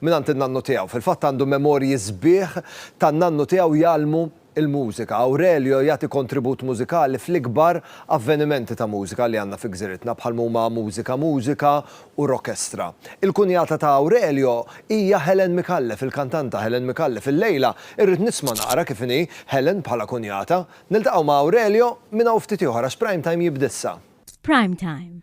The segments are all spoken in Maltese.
mingħand in-nannu tiegħu. Fil-fatt għandu memorji sbieħ tan-nannu tiegħu jgħallmu l-mużika. Aurelio jagħti kontribut mużikali fl-ikbar avvenimenti ta' mużika li għandna fi gżiritna bħal m'huma Mużika Mużika u Rockestra. Il-kunjata ta' Aurelio hija Helen Micallef, il-kantanta Helen Micallef. Illejla irrid nisma' naqra kif inhi Helen bħala kunjata. Niltaqgħu ma' Aurelio minn hawn ftit ieħor għax Prime Time jibda issa. F'Prime Time,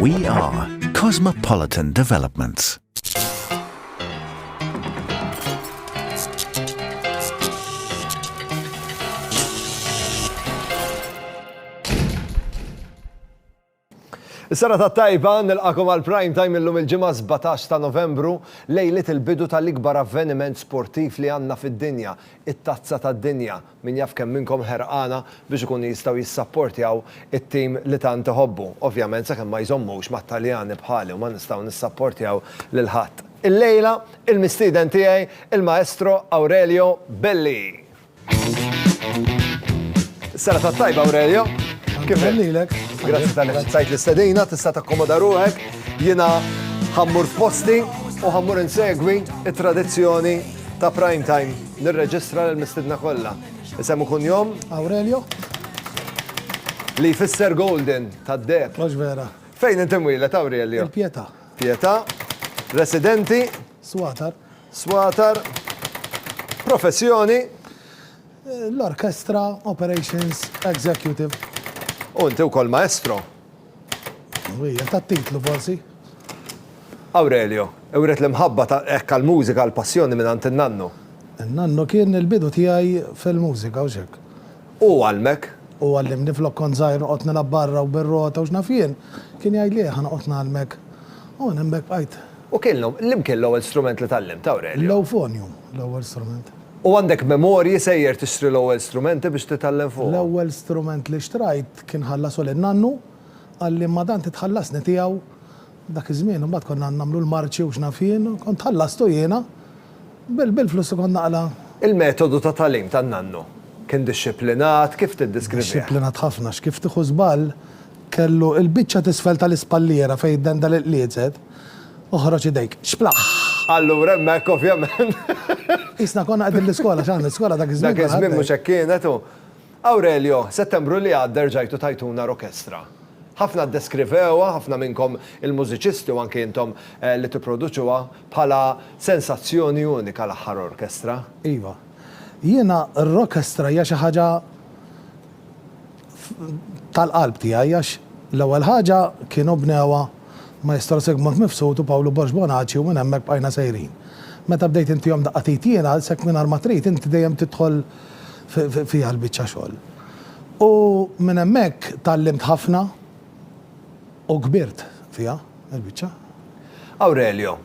We are Cosmopolitan Developments. Is-sena ta' tajba nilqakom għal prime time illum il-ġimgħa 17 ta' Novembru lejlit il-bidu tal-ikbar avveniment sportiv li għandna fid-dinja, it-Tazza tad-Dinja Min jaf kemm minnkom ħerqana biex ikunu jistgħu jissapportjaw it-tim li tant iħobbu. Ovvjament sakemm ma jżommux mat-Taljani bħali u ma nistgħu nissapportjaw lil ħadd. Illejla, il-mistieden tiegħi, il-Maestro Aurelio Belli. Is-serata t-tajba, Aurelio. Kif inhi? Lilek. Grazzi tal-li ċċajt l-istedina, tista' takkomoda ruħek. Jiena ħammur f'posti u ħammur insegwi it-tradizzjoni ta' Prime Time nirreġistra l-mistidna kollha. Isem u kunjom? Aurelio. Li jfisser Golden tad deb. Mhux vera. Fejn inti mwieled Aurelio? Il-Pietà. Pietà. Residenti? Swatar. Swatar. Professjoni? Eh, l-orkestra Operations Executive. U inti wkoll maestro? Hija tat-titlu forsi. Aurelio, wriet l-imħabba ta' hekk għall-mużika għall-passjoni mingħand in-nannu. In-nannu kien il-bidu tiegħi fil-mużika u x'hekk. Hu għallmek? Hu għallimni flok kont żgħir noqgħod nilgħab barra u bir-rota u x'naf jien, kien jgħidli ejja ħa noqgħod ngħallmek. U minn hemmhekk bqajt. U kien liemkien l-ewwel strument li tgħallimt, Aurelio? L-ewfonium, l-ewwel strument. U għandek memorji sejjer tixtri l-ewwel strumenti biex titgħallem fuqhom? L-ewwel strument li xtrajt Kien ħallasu lil nannu, qalli ma dan titħallasni tiegħu. Dak iż-żmien imbagħad konna nagħmlu l-marċi u x'naf jien, kont ħallastu jiena bil-flus li kont naqla'. Il-metodu ta' tagħlim tan-nannu kien dixxiplinat, kif tiddiskrivih? Dixxiplinat ħafna, x'kif tieħu żball, kellu l-biċċa t'isfel tal-ispalliera fejn id-dendel iqliezet, oħroġ idejk, xplaħħ! Allura hemmhekk ovvjament. Qisna konna qegħdin l-iskola, x'għandna l-iskola dak iż-żmien. Dak iż-żmien mhux hekk kienet u. Aurelio, Settembru li għadda rġajtu tajtuna rokestra. Ħafna ddeskrivewha, ħafna minnkom il-mużiċisti u anki intom li tipproduċuha, bħala sensazzjoni unika l-aħħar orkestra. Iva. Jiena r-rokestra hija xi ħaġa tal-qalb tiegħi għax l-ewwel ħaġa kienu bnewha Maestro Sigmund Mifsud u Pawlu Borg Bonaċi u minn hemmhekk bqajna sejrin. Meta bdejt intihom daqqa t'id jiena, għalhekk mingħajr ma trid inti dejjem tidħol fiha l-biċċa xogħol. U minn hemmhekk tgħallimt ħafna u kbirt fiha l-biċċa. Aurelio,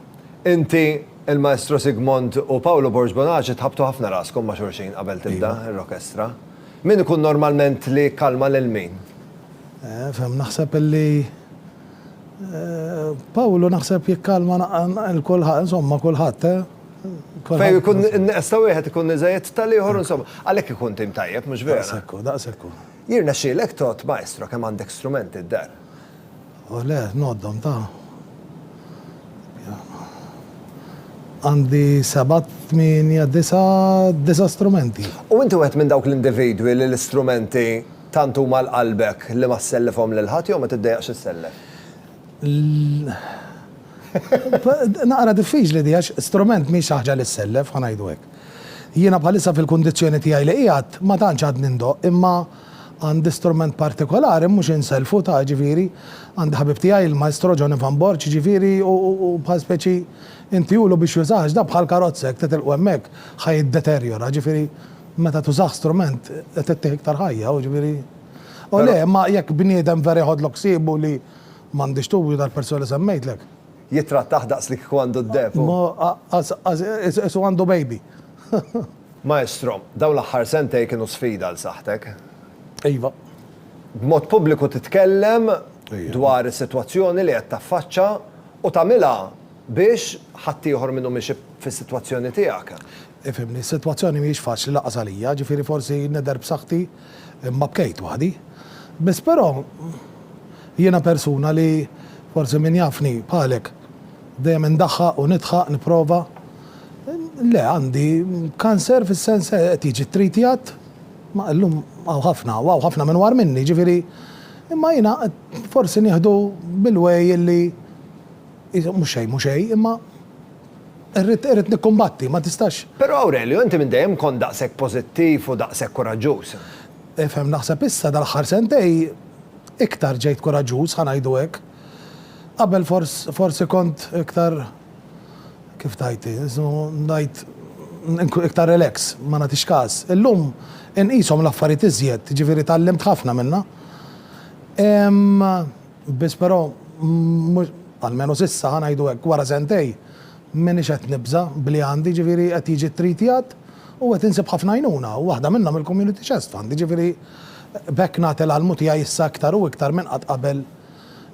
Inti, il-Maestro Sigmond u Paolo Borg Bonaci tħabbtu ħafna raskom ma' xulxin qabel tibda r-rokestra. Min ikun normalment li jikkalma lil min? Ehm, naħseb illi. Pawlu naħseb jikkalma l-kulħadd, insomma kulħadd, eh? Fejn ikun neqes ta' wieħed ikun iżejjed tal-ieħor, insomma, għalhekk ikun tim tajjeb, mhux vera? Daqsekku, daqsekku. Jirna xilek tot, maestro, kemm għandek strumenti d-dar? U oh, le, noddom ta' għandi sebat, tminja, disa, disa strumenti. U inti għet minn dawk l-individwi li l-istrumenti Tant huma 'l qalbek li ma ssellifhom lil ħadd jew ma tiddejjaqx issellef? L, Naqra diffiċli di għax strument mhix xi ħaġa li ssellef, ħa ngħidu hekk. Jiena bħalissa fil-kundizzjoni tiegħi li qiegħed ma tantx għadni ndoqq imma għandi strument partikolari mhux insellfu ta' jiġifieri għandi ħabib tiegħi l-Maestro Johnny Van Borch jiġifieri u bħal speċi intiulu biex jużah għax dan bħal karozza jekk titilqu hemmhekk ħa jiddeterjora jiġifieri Meta tużah strument qed ittih iktar ħajja, u ġifieri, u le, imma jekk bniedem vera jħodlok ħsiebu li m'għandix tu, dal persuna li semmejtlek. Jittrattah daqs li kieku għandu d-deheb u. Qisu għandu baby. Maestro, dawn l-aħħar sentejn kienu sfida għal saħħtek. Iva. B'mod pubbliku titkellem dwar is-sitwazzjoni li qed taffaċċa u tagħmilha biex ħaddieħor min hu miexi fis-sitwazzjoni tiegħek. Ifhimni, is-sitwazzjoni mhijiex faċli lanqas għalija, ġifieri forsi nidher b'saħħti imma bkejt waħdi. Biss però, jiena persuna li, forsi min jafni, bħalek, dejjem indaħħaq u nidħaq, nipprova. Le, għandi kanser fis-sens li qed jiġi ttritjat, ma illum hawn ħafna, u hawn ħafna minwar minni, ġifieri, imma jiena qed forsi nieħdu bil-way li mhux xejn mhu xejn, imma. Irrid, irrid nikkumbatti, ma tistax. Però Aurelio, inti minn dejjem kont daqshekk pożittiv u daqshekk kuraġġuż. Ifhem, naħseb issa, dal-aħħar sentej, iktar ġejt kuraġġuż, ħa ngħidu hekk. Qabel fors, forsi kont iktar, kif tgħid hi, isu ngħid, iktar relax, ma nagħtix każ. Illum inqishom l-affarijiet iżjed, jiġifieri tgħallimt ħafna minnha. Imma. Biss però mhux, almenu s'issa, ħa ngħidu hekk, wara sentejn, m'iniex qed nibża' b'li għandi, jiġifieri qed jiġi ttritjat u qed insib ħafna għajnuna u waħda minnhom il-Community Chest Fund, jiġifieri b'hekk nagħti l-almu tiegħi issa iktar u iktar minn qatt qabel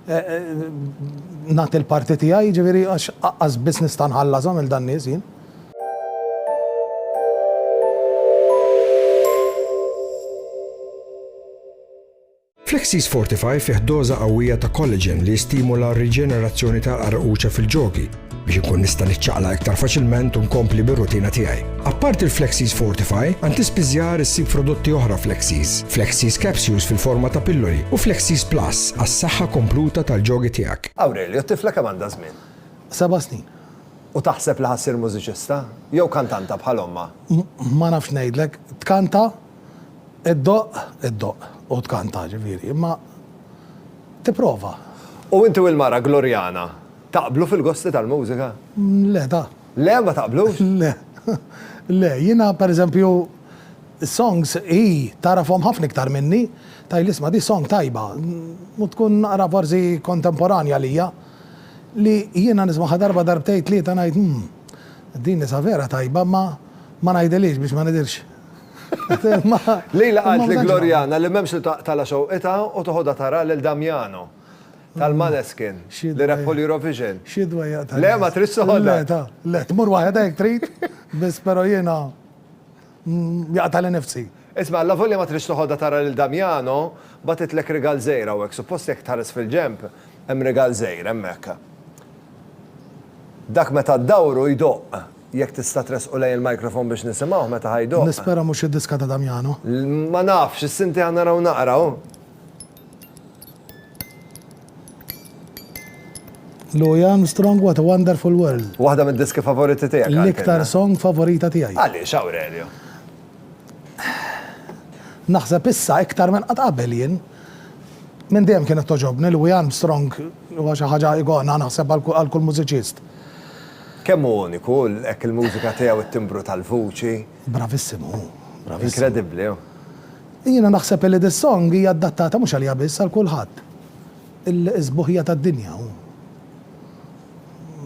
nagħti l-parti tiegħi, jiġifieri għax aqqas biss nista' nħallashom lil dan-nies jien. Flexis Fortify fih doża qawwija ta' collagen li jistimula r-riġenerazzjoni tal-qarquċa fil-ġogi biex inkun nista' niċċaqla iktar faċilment u nkompli bir-rutina tiegħi. Apparti l-Flexis Fortify, għand tispiżjar issib prodotti oħra Flexis, Flexis Capsules fil-forma ta' pilloli u Flexis Plus għas-saħħa kompluta tal-ġogi tiegħek. Aurelio, t-tifla kemm għandha żmien? Seba' snin. U taħseb li ħa ssir mużiċista? Jew kantanta bħal ommha? Ma nafx ngħidlek. Tkanta? Iddoqq, iddoqq, u tkanta, ġifieri, imma tipprova. U inti u l-mara Gloriana taqblu fil-gosti tal-mużika? Le, da. Le, ma taqblux? Le. Le, jiena pereżempju s-songs hi tagħrafhom ħafna iktar minni, tgħidli isma' di song tajba, u tkun naqra forsi kontemporanja għalija, li jiena nismagħha darba darbtejn tlieta ngħid, 'Hm, din nisa vera tajba, imma ma ngħidilhiex biex ma nidhirx Lejla qalt li Gloriana li m'hemmx li taqtala xewqitha u toħodha tara lil Damiano tal-Maneskin li rebħu l-Eurovision. Xi dwejjaq ta' nies. Le, ma tridx toħodha. Le, ta, le, tmur waħedha jekk trid, biss però jiena jaqtagħli nnifsi. Isma', allavolja ma tridx toħodha tara lil Damiano, bagħtitlek rigal żgħir hawnhekk, suppost jekk tħares fil-ġenb hemm rigal żgħir hemmhekk. Dak meta ddawru jdoqq. Jekk tista' tressqu lejn il-microphone biex nisimgħuh meta ħa jdoqq. Nispera mhux id-diska ta' Damiano. Ma nafx, is-sinti ħa naraw naqraw. Louie Armstrong What a Wonderful World. Waħda mid-diski favoriti tiegħek Aurelio. L-iktar song favorita tiegħi. Għaliex Aurelio? Naħseb issa iktar minn qatt qabel jien. Minn dejjem kienet togħġobni, Louie Armstrong huwa xi ħaġa ikona naħseb għal kull mużiċist. Kemm hu uniku, hekk il-mużika tiegħu, it-timbru tal-vuċi. Bravissimu hu, bravissimu. Inkredibbli hu. Jiena naħseb illi dis-song hija addattata mhux għalija biss, għal kulħadd. Il-sbuħija tad-dinja hu.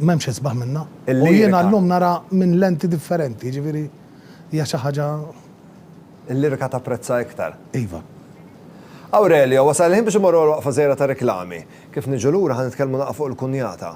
M'hemmx isbaħ minnha. U jiena llum nara minn lenti differenti, jiġifieri hija xi ħaġa. Il-lirika tapprezza iktar. Iva. Aurelio, wasal il-ħin biex immorru għal waqfa żgħira ta' riklami. Kif niġu lura ħa nitkellmu naqgħa fuq il-kunjata.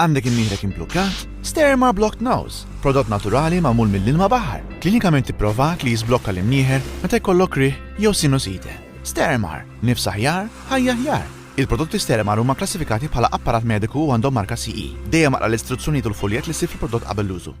Għandek imnieħrek imblukkat? Sterma Blocked Nose, prodott naturali magħmul mill-ilma baħar, klinikament ipprovat li jiżblokka l-imnieħer meta jkollok riħ jew sinusite. Stermar, nifs aħjar, ħajja aħjar! Il-prodotti Stermar huma kklassifikati bħala apparat mediku u għandhom marka CE. Dejjem aqra l-istruzzjonijiet u l-fuljett li ssib fil-prodott qabel l-użu.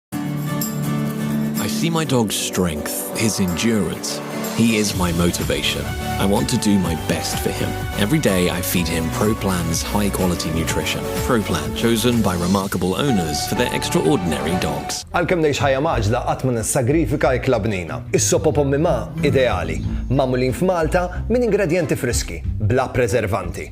I see my dog's strength, his endurance. He is my motivation. I want to do my best for him. Every day I feed him Pro Plan's high quality nutrition. Pro Plan, chosen by remarkable owners for their extraordinary dogs. Għalkemm ngħix ħajja maġla qatt ma nissagrifika ikla bnina. Is-sopo pommi ma ideali, magħmulin f'Malta minn ingredjenti friski, bla preservanti.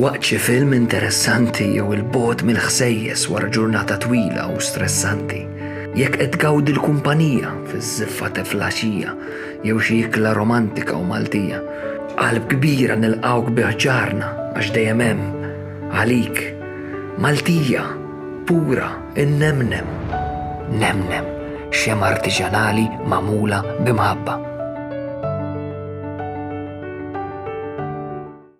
Waqt xi film interessanti jew il-bogħod mill-ħsejjes wara ġurnata twila u stressanti, jekk qed tgawdi l-kumpanija fiż-żiffa ta' flaxija jew xi ikla romantika u Maltija, b'qalb kbira nilqgħuk bi ħġarna għax dejjem hemm, għalik, Maltija, pura, innemnem, nemnem, xemgħa artiġanali magħmula b'imħabba.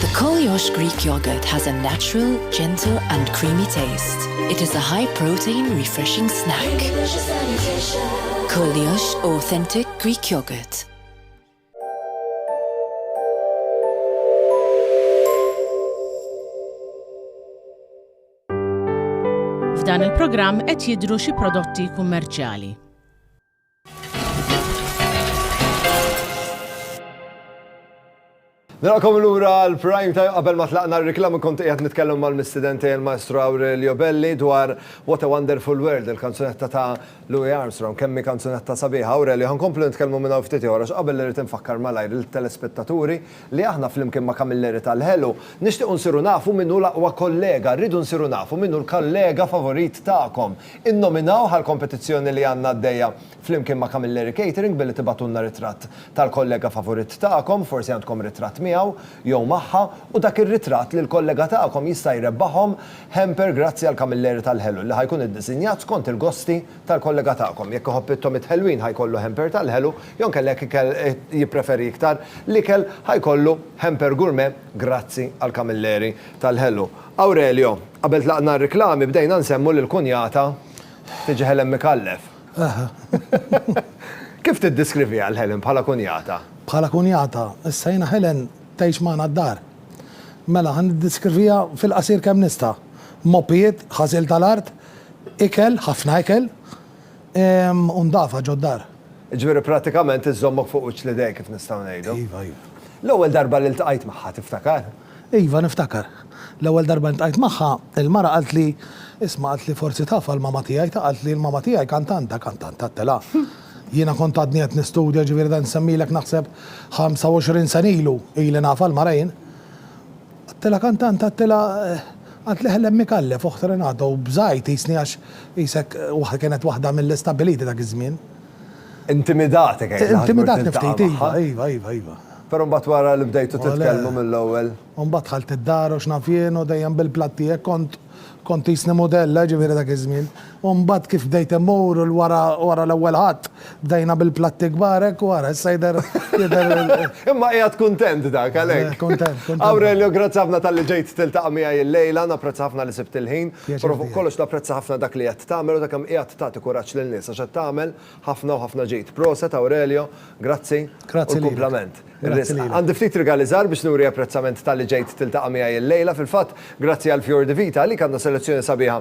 The Koliosh Greek yogurt has a natural, gentle and creamy taste. It is a high protein, refreshing snack. Koliosh Authentic Greek Yogurt. F'dan il-programm qed jidhru xi prodotti kummerċjali. Narakom l-ura l-prime time qabel ma tlaqna r-reklam kont qiegħed nitkellem mal-mistidenti il-Maestro Aurelio Belli dwar What a Wonderful World, il-kanzunetta ta' Louis Armstrong, kemmi kanzunetta sabiħa. Aurelio, ħankomplu nitkellmu minn hawn ftit ieħor qabel li rrid infakkar malajr il-telespettaturi li aħna flimkien ma' Kamilleri tal-Ħelu nixtiequ nsiru nafu min hu l-aqwa kollega, rridu nsiru nafu min hu l-kollega favorit tagħkom. Innominawh għall-kompetizzjoni li għandna għaddejja flimkien ma' Camilleri Catering billi tibagħtulna ritratt tal-kollega favuritt tagħkom, forsi għandkom ritratt miegħu jew magħha, u dak ir-ritratt lill-kollega tagħkom jista' jrebbahom hamper grazzi għal Camilleri tal-Ħelu li ħa jkun iddisinjat skont il-gosti tal-kollega tagħkom. Jekk iħobb it-tomit ħelwin ħa jkollu hamper tal-ħelu, jew inkella jekk ikel jippreferi iktar l-ikel ħa jkollu hamper gourmet grazzi għal Camilleri tal-Ħelu. Aurelio, Qabel tlaqna r-riklami bdejna nsemmu li l-kunjata tiġi Helen Micallef. Kif tiddiskriviha lil Helen bħala kunjata? Bħala kunjata, issa jiena Helen tgħix magħna d-dar. Mela, ħa niddiskrivija fil-qasir kemm nista'. Moppijiet, ħasil tal-art, ikel, ħafna ikel, u ndafa ġod-dar. Jiġifieri prattikament iżżommok fuq wiċċ l-idejk kif nistgħu ngħidu. Iva, iva. L-ewwel darba li ltqajt magħha tiftakar? Iva, niftakar. L-ewwel darba ltqajt magħha, il-mara qaltli, Isma', qaltli, forsi taf għal mama tiegħi, ta' qaltli, l-mama tiegħi kantanta, kantanta, għedtilha. Jiena kont għadni qed nistudja, ġifieri dan nsemmilek naħseb 25 sena ilu, ili nafha l-mara jien. Għedtilha kantanta, għedtilha, qaltli Helen Micallef, oħt Renato, u bżajt qisni għax qisek waħda kienet waħda mill-istabiliti dak iż-żmien. Intimidat kif għedt. Intimidat kif ftit, iva, iva, iva, iva. Però mbagħad wara li bdejtu titkellmu mill-ewwel. U mbagħad dħalt id-dar u x'naf jien u dejjem bil-platt tiegħek kont kont tqisni mudella, jiġifieri dak iż-żmien. U mbagħad kif bdejt immur u wara wara l-ewwel Ħadd bdejna bil-platti kbar hekk u ara issa jidher jidher Imma qiegħed kuntent dak għalhekk. Kuntent, kuntent. Aurelio, grazzi ħafna talli ġejt tiltaqa' miegħi llejla, napprezza ħafna li sibt il-ħin. Però fuq kollox napprezza ħafna dak li qed tagħmel u ta' kemm qiegħed tagħti kuraġġ lil nies għax qed tagħmel ħafna u ħafna ġid. Proset Aurelio, grazzi u l-kumplament. Ir-risqa. Għandi ftit rigali żgħar biex nuri apprezzament talli ġejt tiltaqa' miegħi illejla. Fil-fatt, grazzi għal Fior di Vita, għalik għandna selezzjoni sabiħa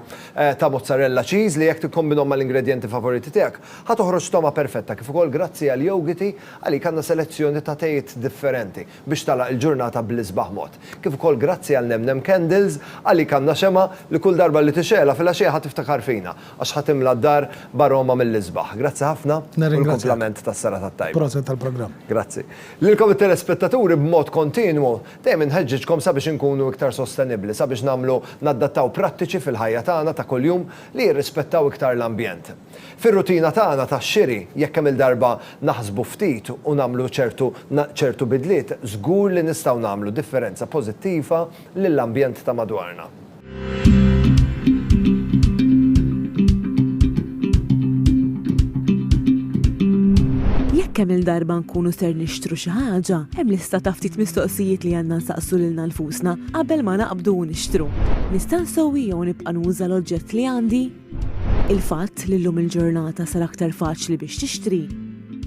ta' mozzarella cheese li jekk tikkombinhom mal-ingredjenti favoriti tiegħek, ħa toħroġ togħma perfetta kif ukoll grazzi għal Yogiti, għalik għandna selezzjoni ta' tejiet differenti. biex tagħlaq il-ġurnata bl-isbaħ mod. Kif ukoll grazzi għal Nemnem Candles, għalik għandna xemgħa li kull darba li tixgħelha filgħaxija ħa tiftakar fina, għax ħa timla d-dar b'aroma mill-isbaħ. Grazzi ħafna u l-kumplament tas-serata t-tajba. Proset tal-programm. Grazzi. Lilkom it-telespettaturi b'mod kontinwu, dejjem inħeġġiġkom sabiex inkunu iktar sostenibbli, sabiex nagħmlu naddattaw prattiċi fil-ħajja tagħna ta' kuljum li jirrispettaw iktar l-ambjent. Fir-rutina tagħna tax-xiri, jekk kemm-il darba naħsbu ftit u nagħmlu ċertu ċertu bidliet, żgur li nistgħu nagħmlu differenza pożittiva lill-ambjent ta' madwarna. Jekk kemm-il darba nkunu ser nixtru xi ħaġa, hemm lista ta' ftit mistoqsijiet li għandna nsaqsu lilna nfusna qabel ma naqbdu u nixtru, Nista' nsewwi jew nibqa' nuża l-oġġett li għandi? Il-fatt li llum il-ġurnata sar aktar faċli biex tixtri,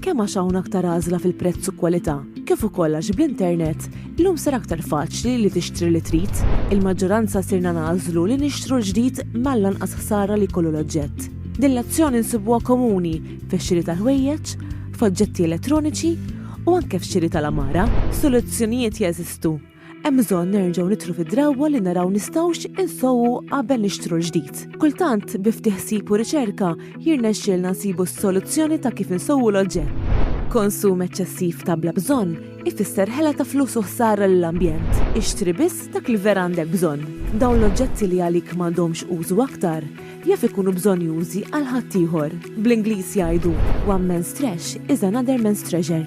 kemm għax hawn aktar għażla fil-prezz u kwalità, kif ukoll għax bl-internet, llum sar aktar faċli li tixtri li trid. Il-maġġoranza sirna nagħżlu li nixtru l-ġdid mal-anqas ħsara li jkollu l-oġġett. Din l-azzjoni nsibuha komuni fix-xiri tal-ħwejjeġ, f'oġġetti elettroniċi u anke f'xiri tal-għamara. Soluzzjonijiet jeżistu, Hemm bżonn nerġgħu nitru fid-drawwa li naraw nistgħux insowwu qabel nixtru l-ġdid. Kultant, bi ftit ħsieb u riċerka, jirnexxielna nsibu s-soluzzjoni ta' kif insowwu l-oġġett. Konsum eċċessiv ta' bla bżonn ifisser ħela ta' flus u ħsara lill-ambjent. Ixtri biss dak li vera għandek bżonn. Dawn l-oġġetti li għalik m'għandhomx użu aktar, jaf ikunu bżonnjużi għal ħaddieħor. Bl-Ingliż jgħidu, one man's trash is another man's treasure.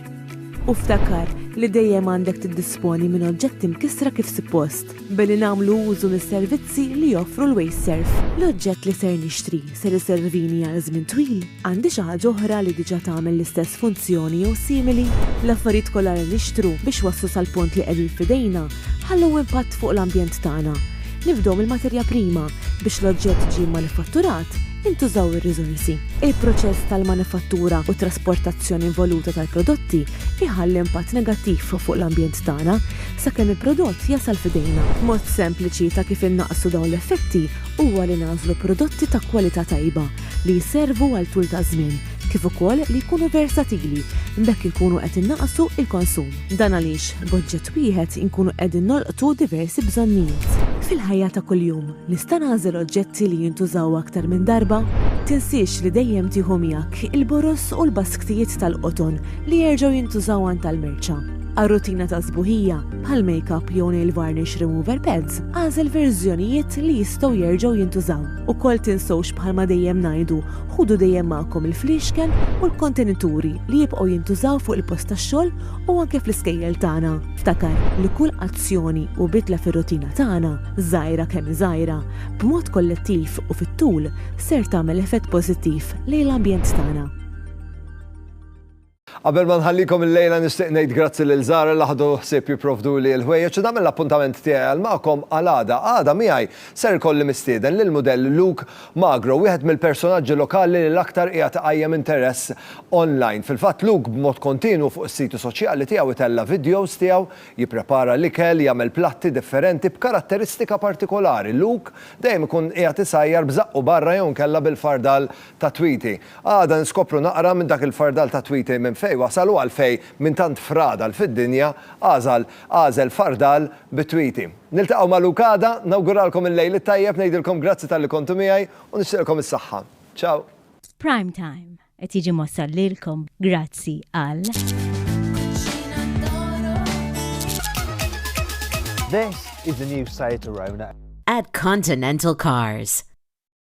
U ftakar li dejjem għandek tiddisponi minn oġġetti mkissra kif suppost, billi nagħmlu użu mis-servizzi li joffru l-Wasteserv. L-oġġett li ser nixtri ser iservini għal żmien twil? Għandi xi ħaġa oħra li diġà tagħmel l-istess funzjoni jew simili? L-affarijiet kollha li nixtru biex waslu sal-punt li qegħdin f'idejna ħallew impatt fuq l-ambjent tagħna. Nifdew mill-materja prima, biex l-oġġett ġie mmanifatturat, intużaw ir-riżorsi. Il-proċess tal-manifattura u t-trasportazzjoni involuta tal-prodotti jħalli impatt negattiv fuq l-ambjent tagħna, sakemm il-prodott jasal f'idejna. Mod sempliċi ta' kif innaqqsu dawn l-effetti huwa li nagħżlu prodotti ta' kwalità tajba, li jservu għal tul ta' żmien, kif ukoll li jkunu versatili, b'hekk inkunu qed innaqqsu l-konsum. Dan għaliex b'oġġett wieħed inkunu qegħdin nolqtu diversi bżonnijiet. Fil-ħajja ta' kuljum, nista' nagħżel oġġetti li jintużaw aktar minn darba? Tinsiex li dejjem tieħu miegħek il-boroż u l-basktijiet tal-qoton li jerġgħu jintużaw għand tal-merċa. Għar-rutina ta' sbuħija, bħal makeup jew nail varnish remover pads, agħżel verżjonijiet li jistgħu jerġgħu jintużaw. Ukoll tinsewx bħalma dejjem ngħidu, ħudu dejjem magħkom il-fliexken u l-kontenituri li jibqgħu jintużaw fuq il-post tax-xogħol u anke fl-iskejjel tagħna. Ftakar li kull azzjoni u bidla fir-rutina tagħna, żgħira kemm hi żgħira, b'mod kollettiv u fit-tul ser tagħmel effett pożittiv lejn l-ambjent tagħna. Qabel ma nħallikom illejla nixtieq ngħid grazzi lil Zahra li ħadu ħsieb jipprovduli l-ħwejjeġ u nagħmel l-appuntament tiegħi għal magħkom għal għada. Għada miegħi ser ikolli mistieden lill-mudell Luke Magro, wieħed mill-personaġġi lokali li l-aktar qiegħed iqajjem interess online. Fil-fatt Luke b'mod kontinwu fuq is-siti soċjali tiegħu itella' vidjows tiegħu jipprepara l-ikel, jagħmel platti differenti b'karatteristika partikolari. Luke dejjem ikun qiegħed isajjar b'żaqqu barra jew inkella bil-fardal tat-twiti. Għada nskopru naqra minn dak il-fardal ta' twitej minn fejn wasal u għalfejn minn tant fradal fid-dinja għażal għażel fardal bit-twiti. Niltaqgħu ma' Luke għada, nawguralkom il-lejl it-tajjeb, ngħidilkom grazzi talli kontu miegħi u nixtieqilkom is-saħħa. Ciao! Prime Time qed jiġi mwassal lilkom grazzi għal. This is the new Seat Arona. At Continental Cars.